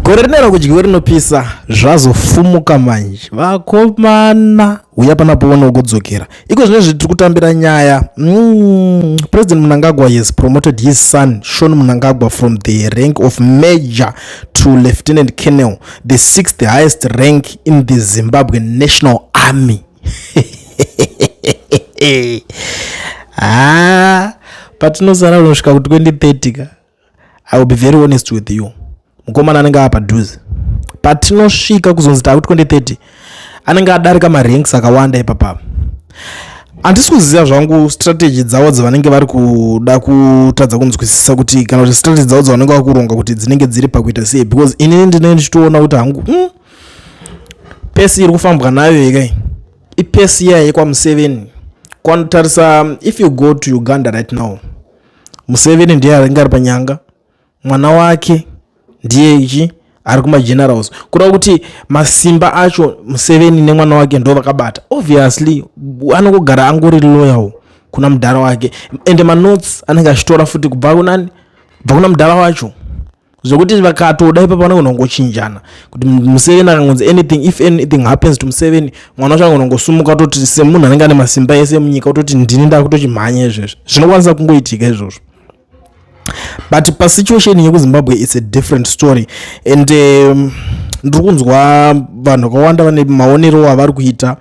gore rino rakudyiwe rinopisa zvazofumuka manje vakomana uya pana poona ukudzokera iko zvine zvitiri kutambira nyaya mm, president munangagwa has promoted his son shon munangagwa from the rank of major to lieutenant kennel the sixth highest rank in the zimbabwe national army haa patinozara unosvika ku 2030 ka i will be very honest with you mukomana anenge ava padhuze patinosvika kuzonzi tava ku 2030 anenge adarika maranks akawanda ipapapa handisi kuziva zvangu strategy dzavo dzavanenge vari kuda kutadza kunzwisisa kuti kana kuti strategy dzavo dzavanenge vakuronga kuti dzinenge dziri pakuita sei because inini ndinenge ndichitoona kuti hangu mm, pesi iri kufambwa nayo yekei ipesi iya yekwamuseveni kwanotarisa um, if you go to uganda right now museveni ndiye aringe ari panyanga mwana wake ndiye ichi ari kumagenerals kureva kuti masimba acho museveni nemwana wake ndo vakabata obviously anongogara angori loyal kuna mudhara wake ende manotes anenge achitora futi kubva kunani kubva kuna mudhara wacho zvekuti vakatoda ipapo vanogona kungochinjana kuti museveni akangonzi anything if anything happens to museveni mwana wacho anogona kungosumuka ototi semunhu anenge ane masimba ese munyika ototi ndini ndakutochimhanya izvezvo zvinokwanisa kungoitika izvozvo but pasituation yekuzimbabwe its a different story and um, ndiri kunzwa vanhu vakawanda vane maonero avari kuita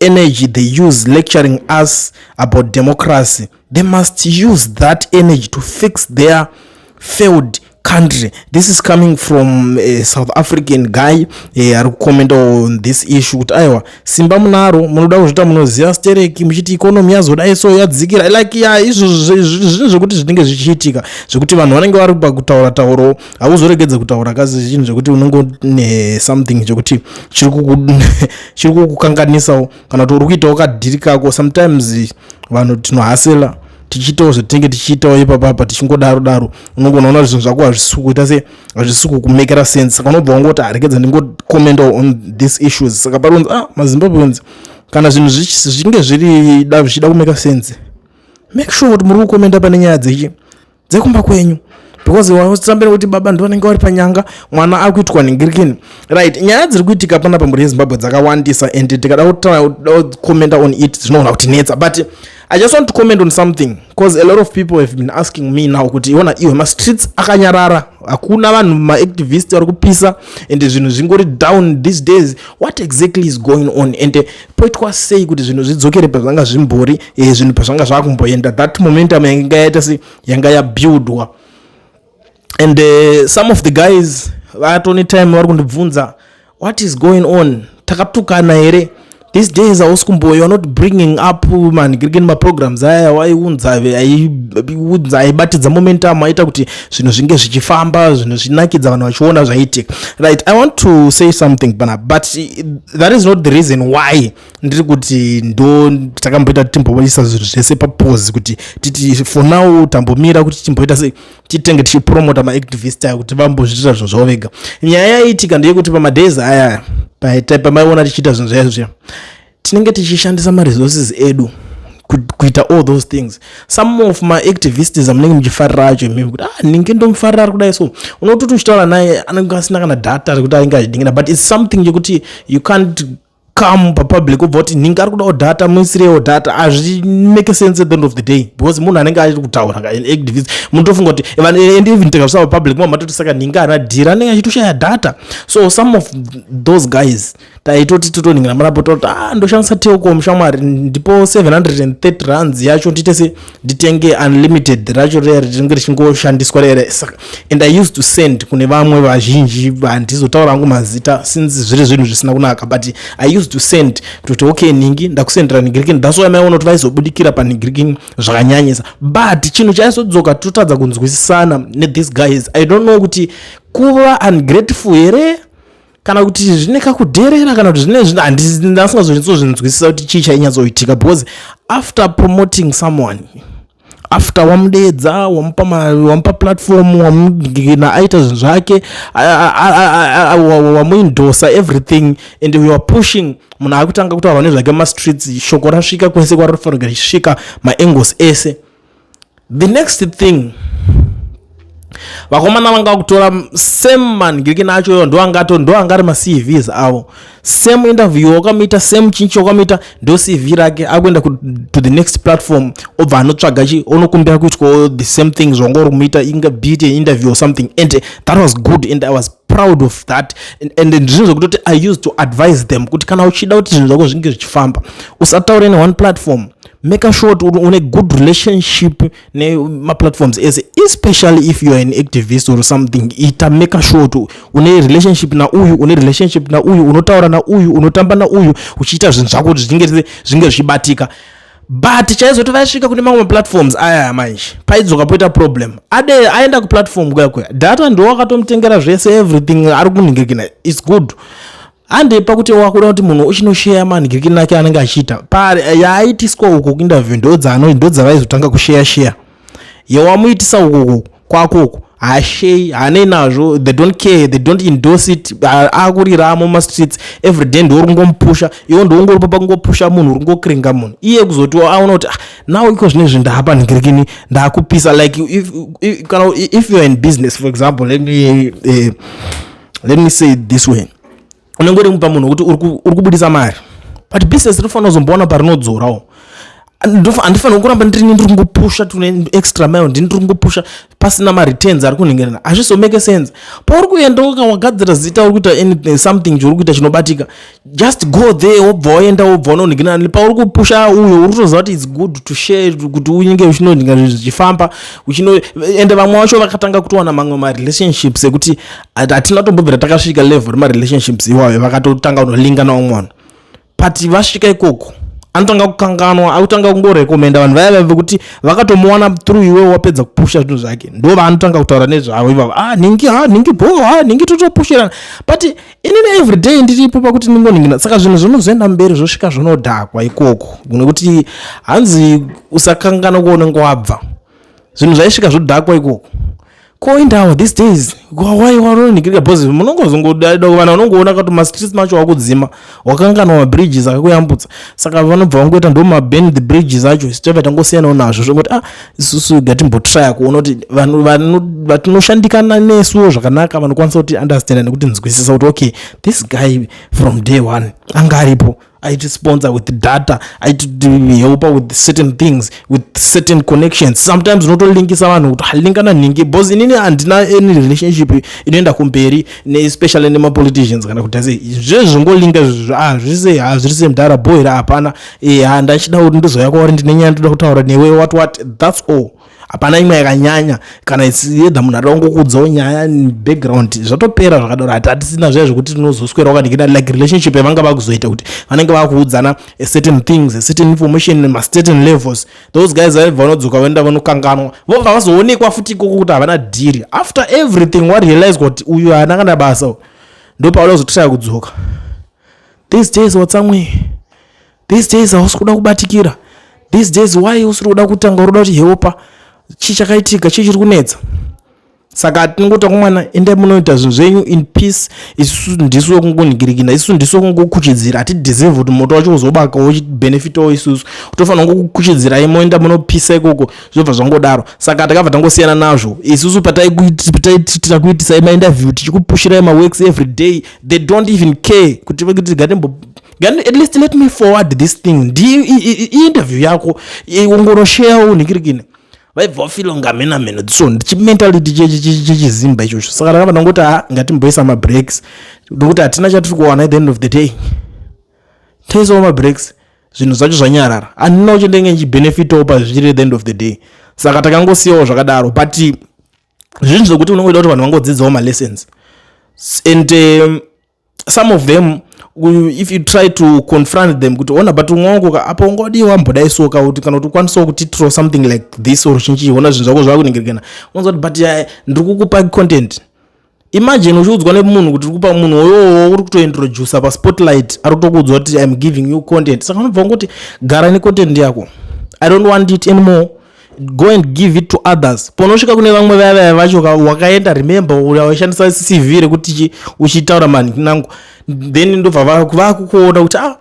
energy they use lecturing us about democracy they must use that energy to fix their failed country this is coming from a south african guy eh, ari kucomment on this issue kuti aiwa simba munaro munoda kuzvita munoziva stereki muchiti ikonomi yazodai so yadzikira like ya izvo zvinhu zvekuti zvinenge zvichiitika zvekuti vanhu vanenge vari pakutaura tauro hauzoregedze kutaura kazi chinhu chekuti unongo nesomething chekuti chiri kukukanganisawo kana kuti uri kuitawo kadhiri kako sometimes vanhu tinohasela tichiitawo zvatinenge tichiitawo ipapapa tichingodaro daro unongona ona zvinhu zvako hazvisi kuita se hazvisi kukumekera sense saka unobva wangoti harekedza ndingocommentawo on these issues saka pari kunzi ah mazimbabweans kana zvinhu zvichinge zviri da zvichida kumeka sense make sure kuti muri kukomenda pane nyaya dzechi dzekumba kwenyu because wausambira kuti baba ndo vanenge vari panyanga mwana akuitwa ningirikini right nyaya dziri kuitika pana pamhuri yezimbabwe dzakawandisa and tikada kucomenta on it zvinogona kuti netsa but i just want to comment on something because a lot of people have been asking me now kuti iona iwe mastreets akanyarara hakuna vanhu maactivist vari kupisa and zvinhu zvingori down these days what exactly is going on and poitwa sei kuti zvinhu zvidzokere pazvanga zvimbori e, zvinhu pazvanga zvakumboenda that momentum yanga yaita se yanga yabuildwa and uh, some of the guys vatone time vari kundibvunza what is going on takatukana here these days hausi kumboyo youare not bringing up manhigirikeni maprograms aya waiunza aibatidza momentum aita kuti zvinhu zvinge zvichifamba zvinhu zvinakidza vanhu vachiona zvaitika right i want to say something pana but that is not the reason why ndiri kuti ndo takamboita timboisa zvinhu zvese papose kuti titi for now tambomira kuti timboita se titenge tichipromota maactivist ayo kuti vambozviitira zvinhu zvavo vega nyaya yaitika ndeyekuti pamadays aya paita pamaiona tichiita zvinhu zvaizvo zviya tinenge tichishandisa maresources edu kuita all those things some of maactivists amunenge muchifarira acho imimi kuti ah ndinge ndomufarira ari kudai so unototi uchitaura naye anenge asina kana data rekuti ainge achidingira but its something yekuti you can't come papublic obva kuti ndinge ari kudawo data muisirewo data hazvi make sense at the end of the day because munhu anenge achiri kutaura activist munotofunga kuti and even tikazvisa papublic mwa matoti saka ndinge ana dhira anenge achitoshaya data so some of those guys taitoti totoningira marapo toti ah, ndoshandisa telcom shamwari ndipo 730 runs yacho nditese nditenge unlimited racho riya ritinge richingoshandiswa rere and i used to send kune vamwe vazhinji vandizotaura angu mazita since zviri zvinhu zvisina kunaka but i used to send kutoti okay ningi ndakusendera nigirikini that's why maiona kuti vaizobudikira panigirikini zvakanyanyisa but chinhu chaizodzoka totadza kunzwisisana nethese guys i don't know kuti kuva ungrateful here kana kuti zvine kakudherera kana kuti zvine zvino handinasingazonyatsozinzwisisa kuti chii chainyatsoitika because after promoting someone after wamudeedza wamupa wamupa platform wamugina aita zvinhu zvake wamuindosa everything and we are pushing munhu akutanga kutaura nezvake mumastreets shoko rasvika kwese kwarinofanira kusvika maangles ese the next thing vakomana vanga kutora same man girikina acho yo ndoangato ndoanga ari macvs avo same interview wakamuita same chinchi wakamuita ndo cv rake akuenda to the next platform obva anotsvaga chi onokumbira kuitwawo the same thing zvanga uri kumuita inga beat an interview or something and eh, that was good and i was proud of that and ndizvinhu zvekutoti i used to advise them kuti kana uchida kuti zvinhu zvako zvinge zvichifamba usataure neone platform maker sure kuti une good relationship nemaplatforms ese especially if youare an activist or something ita maker sure kuti une relationship nauyu une relationship nauyu unotaura nauyu unotamba nauyu uchiita zvinhu zvako kuti zvinge zvinge zvichibatika but chaizoti vaisvika kune mamwe maplatforms ayaya manje paidzoka poita problem ade aenda kuplatform kuya kuya data ndiwo akatomutengera zvese everything ari kunhingirikina its good hande pakuti wakuda kuti munhu uchinosheya manhikirikiri nake anenge achiita pari eh, yaaitiswa uko kuinterview ndodzano ndodzavaizotanga kusheya sheya yewamuitisa ukoko kwakoko hashei hanei nazvo they don't care they don't endorse it akuriramo mumastreets every day ndiwo ringomupusha iwo ndiwongoripo pakungopusha munhu ringokiringa munhu iye kuzotiwa aona kuti ah, now iko zvine zvinhu ndaapa nhikirikini ndakupisa like if, if, if, if youare in business for example let me uh, let me say this way unenge uri mupa munhu wekuti uri kubudisa mari but business rinofanira kuzomboona parinodzorawo handifanira kuramba ndirini ndiri kungopusha tune extra mile ndini ndiri kungopusha pasina mareturns ari kunhengerana hazvizomake sense pauri kuenda wagadzira zita uri kuita something chouri kuita chinobatika just go there wobva waenda wobva unonhikina pauri kupusha uyo uri kutoziva kuti its good to share kuti unyinge uchinonhinga zvinhu zvichifamba uchino ende vamwe vacho vakatanga kutowana mamwe marelationships ekuti hatina tombobvira takasvika level remarelationships iwayo vakatotanga kunolinga naumwe vanhu but vasvika ikoko anotanga kukanganwa akutanga kungorekomenda vanhu vaya vaive kuti vakatomuwana through iwe wapedza kupusha zvinhu zvake ndo vaanotanga kutaura nezvavo ivavo ah ningi ha ah, ningi bho ha ah, ningi totopushirana but ini na everyday ndiripo pakuti ndingoningina saka zvinhu zvinozoenda mberi zvosvika zvinodhakwa ikoko nekuti hanzi usakangana kuonenge wabva zvinhu zvaisvika zvodhakwa ikoko koindawo these days why waronigirika bcause munongozongoda kuvana unongoona kuti mastreets macho wakudzima wakanganwa mabridges akakuyambutsa saka vanobva vangoita ndo maben the bridges acho sitova tangosiyanawo nazvo zvokuti ah isusu gatimbotraya kuona kuti vanhu vatinoshandikana nesuwo zvakanaka vanokwanisa kuti understanda nekuti nzwisisa kuti okay this guy from day one anga aripo aitisponsor with data aitihelpa with certain things with certain connections sometimes unotolinkisa vanhu kuti halingana nhingi bcause inini handina any relationship inoenda kumberi neespecially nemapoliticians kana kuti ase zvezvingolinga zvizvo ah, zvese hazviri ah, semdhara bohera hapana eha ndachida kuti ndizouya kwauri ndine nyaya ndoda kutaura newe what what thats all hapana imwe yakanyanya kana yedha munhu atoda kungokuudzawo nyaya background zvatopera zvakadaro hati hatisina zviya zvekuti tinozoswera wakaningina like relationship yavanga vakuzoita kuti vanenge vakuudzana a certain things a certain information macertain levels those guys vaibva vanodzoka vaenda vanokanganwa vobva vazoonekwa futi ikoko kuti havana dhiri after everything warealize kuti uyu haana kana basa ndopauda kuzototaya kudzoka these days watsamwe these days hausi kuda kubatikira these days why usiri kuda kutanga uroda kuti heopa chii chakaitika chii chiri kunetsa saka tinongota kumwana endai munoita zvinhu zvenyu in peace isusu ndisu wekungonhigirikina isusu ndisu wekungokuchidzira hatideserve kuti moto wacho uzobaka wochibenefitawo isusu kutofanira kungokuchidzirai moenda munopisa ikoko zvobva zvangodaro saka takabva tangosiyana nazvo isusu pataitira kuitisai maindaview tichikupushirai maworks every day they don't even care kuti kuti gatembo at least let me forward this thing ndiyo iinterview yako ongorosheyawo ningirikine vaibva vafilo ngamena meno so chimentality chechizimba ichocho saka rakava ndangoti ha ngatimboisa mabreaks ndokuti hatina chatiri kuwana at the end of the day taisawo mabreaks zvinhu zvacho zvanyarara handina kuchendenge nchibenefitawo pazviri at the end of the day saka takangosiyawo zvakadaro but zvinhu zvekuti unongoita kuti vanhu vangodzidzawo malessons and um, some of them if you try to confront them kuti ona but ungongo apa ungodii wambodayi so ka kuti kana kuti ukwanisawo kuti tro something like this or chinchii ona zvinhu zvako zvakuningirikana unonza kuti but ndiri kukupa content imagine uchiudzwa nemunhu kuti uri kupa munhu oyowo uri kutointroducer paspotlight ari kutokuudzwa kuti im giving you content saka unobva ungoti gara necontent yako i don't want it anymore go and give it to others ponosvika kune vamwe vaya vaya vacho wakaenda remember waishandisa cv rekuti uchitaura manhinangu then ndobva vakukuona kuti ah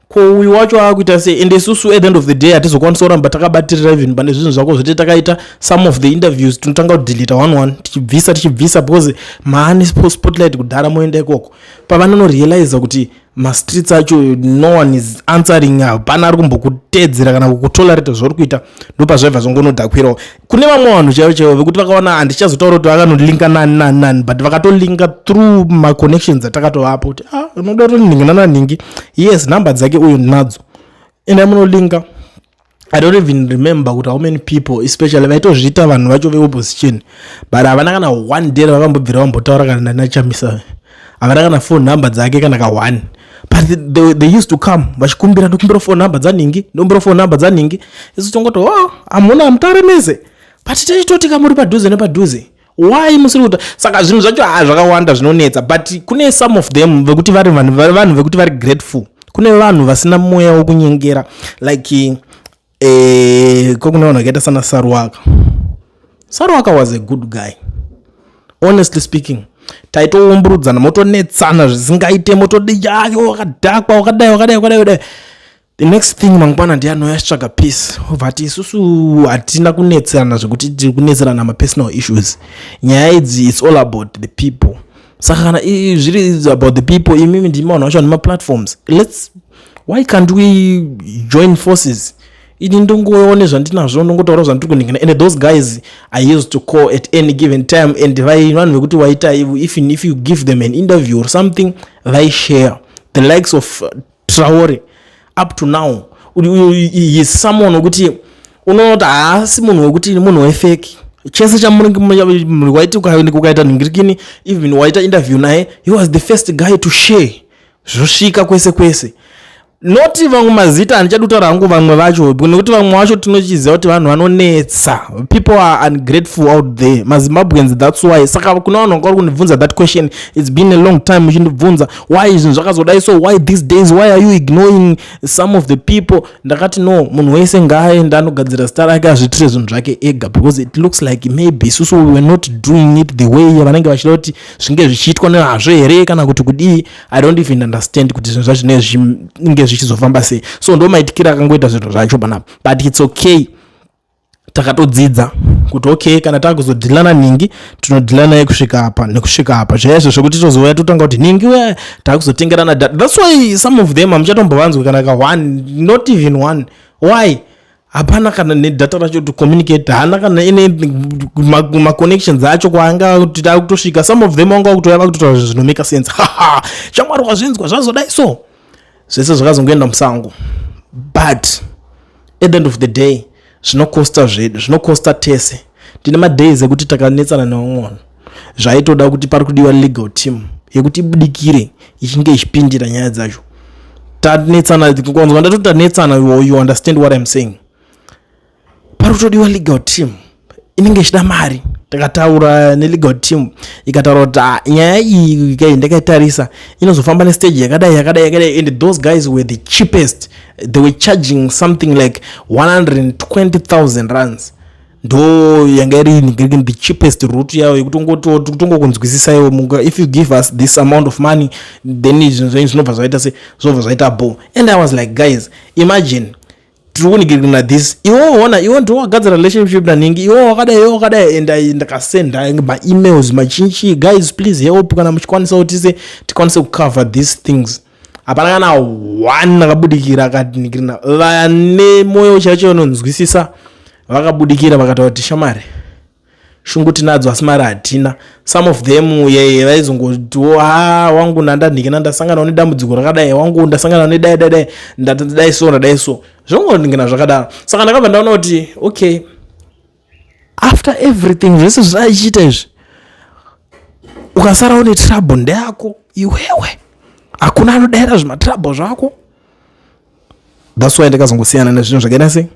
ko uyu wacho aakuita sei and isusu at the end of the day hatizokwanisa kuramba takabatirira even pane zvinhu zvako zvete takaita some of the interviews tinotanga kudelita one one tichibvisa tichibvisa because maani spotlight kudhara moenda ikoko pavanonorealiza kuti mastreets acho no one is answering hapana ari kumbokuteedzera kana kukutolerate zvauri kuita ndopazvaibva zvongonodakwirawo kune vamwe vanhu chaivo chaivo vekuti vakaona handichazotaura kuti vakanolinka nani nani nani but vakatolinka through maconnections atakatovapo kuti ah unoda kuti ningi nananingi yes number dzake uyu ndinadzo ende munolinka i don't even remember kuti how many people especially vaitozviita vanhu vacho veopposition but havana kana one day ravakambobvira vambotaura kana ndanachamisa havana kana phone number dzake kana ka one but they, they used to come vachikumbira ndokumbira phone number dzaningi ndokumbira phone number dzaningi isu tongoto oh, hamuna hamutare mese but tichitoti kamuri padhuze nepadhuze why musiri kuta saka zvinhu zvacho ha ah, zvakawanda zvinonetsa but kune some of them vekuti vari vanhu vekuti vari grateful kune vanhu vasina mweya wekunyengera like eh, ko kune vanhu vakaita sana saruwaka saruwaka was a good guy honestly speaking taitoumburudzana motonetsana zvisingaite motodi yake wakadhakwa wakadai wakadai wakadai kudai the next thing mangwana ndi anouya achitsvaga peace obva ati isusu hatina kunetserana zvekuti tiri kunetserana mapersonal issues nyaya idzi its all about the people saka kana zviri about the people imimi ndimi vanhu vacho vane maplatforms lets why can't we join forces ini ndongoone zvandinazvo ndongotaura zvandiri kuningina and those guys i used to call at any given time and vanhu vekuti waita even if you give them an interview or something they share the likes of uh, Traore up to now he is someone wekuti unonoti haasi munhu wekuti munhu wefeki chese chamuwaiti ukaita nhingirikini even waita interview naye he was the first guy to share zvosvika kwese kwese noti vamwe mazita handichadi kutaura hangu vamwe vacho nekuti vamwe vacho tinochiziva kuti vanhu vanonetsa people are ungrateful out there mazimbabweans thats why saka kuna vanhu vanga vari kundibvunza that question its been a long time muchindibvunza why zvinhu zvakazodai so why these days why are you ignoring some of the people ndakati no munhu wese ngaaende anogadzira zita rake azviitire zvinhu zvake ega because it looks like maybe isusu we were not doing it the way vanenge vachida kuti zvinge zvichiitwa nehazvo here kana kuti kudii i don't even understand kuti zvinhu zvacho nezvinge zvichizofamba sei so ndo maitikira akangoita zvinhu zvacho panapa but it's okay takatodzidza kuti okay kana takuzodhilana nhingi tinodhilana yekusvika apa nekusvika apa zvaya izvo zvekuti tozouya totanga kuti nhingi uya takuzotengerana data thats why some of them hamuchatombovanzwi kana ka one not even one why hapana kana nedata racho to communicate haana kana ine maconnections acho kwaanga kuti takutosvika some of them wanga wakutouya vakutotaura zvinhu zvinomeka sense haa shamwari wazvinzwa zvazodai so zvese zvakazongoenda musango but at the end of the day zvinokosta zvedu zvinokosta tese tine madays ekuti takanetsana neumwona zvaitoda kuti pari kudiwa legal team yekuti ibudikire ichinge ichipindira nyaya dzacho tanetsana kwanzwa ndatoti tanetsana you understand what im saying pari kutodiwa legal team inenge ichida mari takataura nelegal team ikataura kuti ah, nyaya iyi kai ndakaitarisa inozofamba nestage yakadai yakadai yakadai and those guys were the cheapest they were charging something like 120000 runs ndo yanga iri the cheapest root yayo yekutongokunzwisisa iwo munga if you give us this amount of money then zvinhu zvenyu zvinobva zvaita se zvinobva zvaita bo and i was like guys imagine tiri kunigirina this iwo ona iwo ndiwo wagadzira relationship nanhingi iwo wakadai iwo wakadai and i ndakasenda maemails machinchi guys please help kana muchikwanisa kuti se tikwanise kucover these things hapana kana one akabudikira akatinigirina vane mwoyo chaicho vanonzwisisa vakabudikira vakataura kuti shamari shungu tinadzo asi mari hatina some of them yeye vaizongotiwo ha wangu ndandanhikina ndasanganawo nedambudziko rakadai wangu ndasanganawo nedai dai dai ndadai so ndadai so zvongonhikina zvakadaro saka ndakabva ndaona kuti okay after everything zvese zvaichiita izvi ukasarawo netrouble ndeyako iwewe hakuna anodaira zvimatrouble zvako thats why ndakazongosiyana nezvinhu zvakaita sei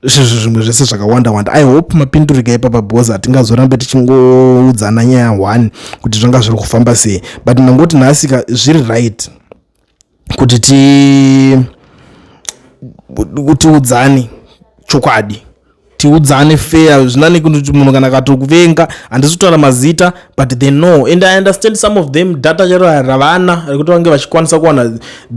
izvozvo zvimwe zvese zvakawanda wanda i hope mapindurika ipapa because hatingazorambe tichingoudzana nyaya one kuti zvanga zviri kufamba sei but ndangoti nhasika zviri right kuti ti kutiudzani chokwadi tiudzane fair zvinani kuti munhu kana katokuvenga handisi kutaura mazita but they know and i understand some of them data chero ravana rekuti vange vachikwanisa kuwana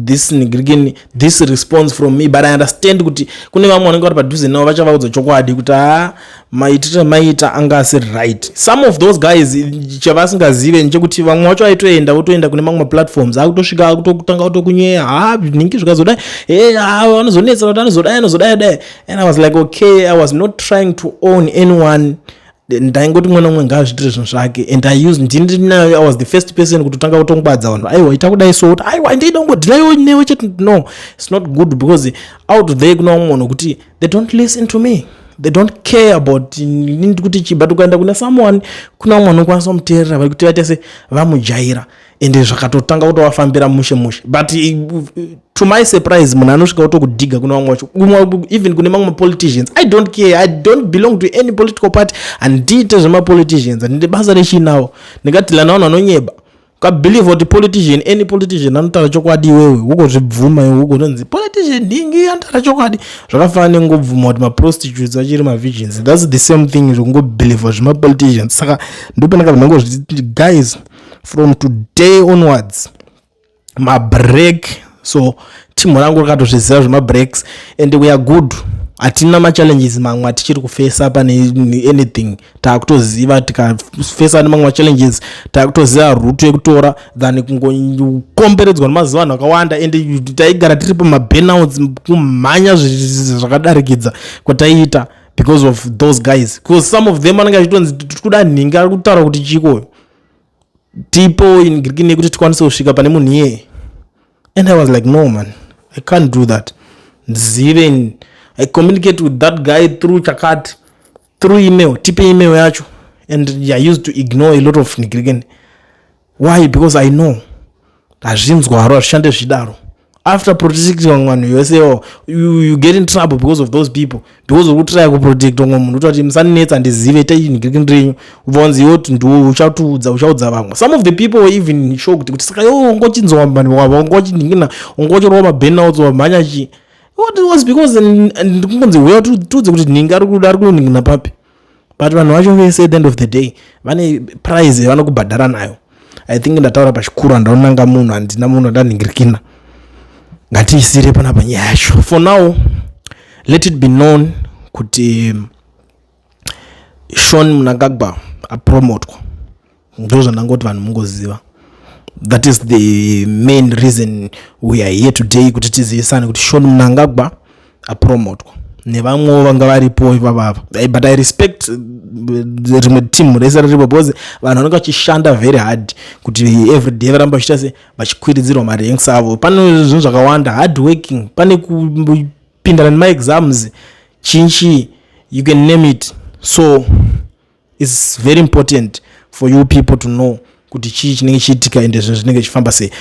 this nigrikin this response from me but i understand kuti kune vamwe vanenge vari padhuze navo vachavaudza chokwadi kuti haa ah, maitire maita anga asiri right some of those guys chavasingazive nechekuti vamwe vacho aitoenda votoenda kune mamwe maplatforms akutosvika akutokutanga kutokunyeya haa ah, nhingi zvikazodai e eh, haa ah, anozonetsa kuti anozodai anozodai dai and i was like okay i was not trying to own anyone ndaingoti mwana umwe ngaazviitire zvinhu zvake and i used ndini ndiri nayo i was the first person kutotanga kutongwadza vanhu aiwa ita kudai so kuti aiwa ndaida kungodhirayo newe chete no its not good because out there kuna umwe munhu kuti they don't listen to me they don't care about kuti chii but ukaenda kuna someone kuna umwe anokwanisa kumuteerera vari kuti vaita se vamujaira ende zvakatotanga kutovafambira mushe mushe but eh, to my surprise munhu anosvika kutokudhiga kune vamwe vacho even kune mamwe mapoliticians i don't care i don't belong to any political party handiite zvemapoliticians handinde basa rechinawo ndingati lana vanhu vanonyeba ukabelieve kuti politician any politician anotaura chokwadi iwewe wokozvibvuma iwe wokononzi politician ndingi anotaura chokwadi zvakafana nengobvuma kuti maprostitutes achiri mavisions thats the same thing zvekungobelieve zvemapoliticians saka ndopandakabva ndangozviti guys from today onwards mabreak so team rangu rakatozviziva zvemabreaks and we are good hatina machallenges mamwe atichiri kufesa pane anything taakutoziva tikafesa nemamwe machallenges taakutoziva ruto yekutora than kungokomberedzwa nemaziva vanhu vakawanda and taigara tiri pamabenouts kumhanya zvakadarikidza kwataiita because of those guys because some of them anenge achitonzi tiri kuda nhinga ari kutaura kuti chikoyo tipo in greek nekuti tikwanise kusvika pane munhu iyeye and i was like no man i can't do that ndizive in i communicate with that guy through chakati through email tipe email yacho and i used to ignore a lot of nigriken why because i know hazvinzwaro hazvishande zvidaro after protecting vamwe vanhu yose oh, you, you get in trouble because of those people because uri kutraya kuprotect vamwe munhu utati musaninetsa ndizive itai chinhu kiri kini renyu vonzi yoti ndiwo uchatiudza uchaudza vamwe some of the people were even shocked kuti saka yo ungochinzwa vanhu wava ungochinhingina ungochorova mabenouts wamhanya chii what was because ndikungonzi huya tiudze kuti nhingi ari kuda ari kunonhingina papi but vanhu vacho vese at the end of the day vane prize yavanokubhadhara nayo i think ndataura pachikuru handaonanga munhu handina munhu andanhingirikina ngatiisire pana panyaya yacho for now let it be known kuti shon munangagwa apromotwa ndozvandangoti vanhu mungoziva that is the main reason we are here today kuti tizivisane kuti shon mnangagwa apromotwa nevamwewo vanga varipo ivavava eh, but i respect eh, rimwe team rese riripo because vanhu vanenge vachishanda very hard kuti everyday varamba vachiita se vachikwiridzirwa maranks avo pane zvinhu zvakawanda hard working pane kupindana nemaexams chinchi you can name it so its very important for you people to know kuti chii chinenge chiitika ende zvinhu zvinenge zvichifamba sei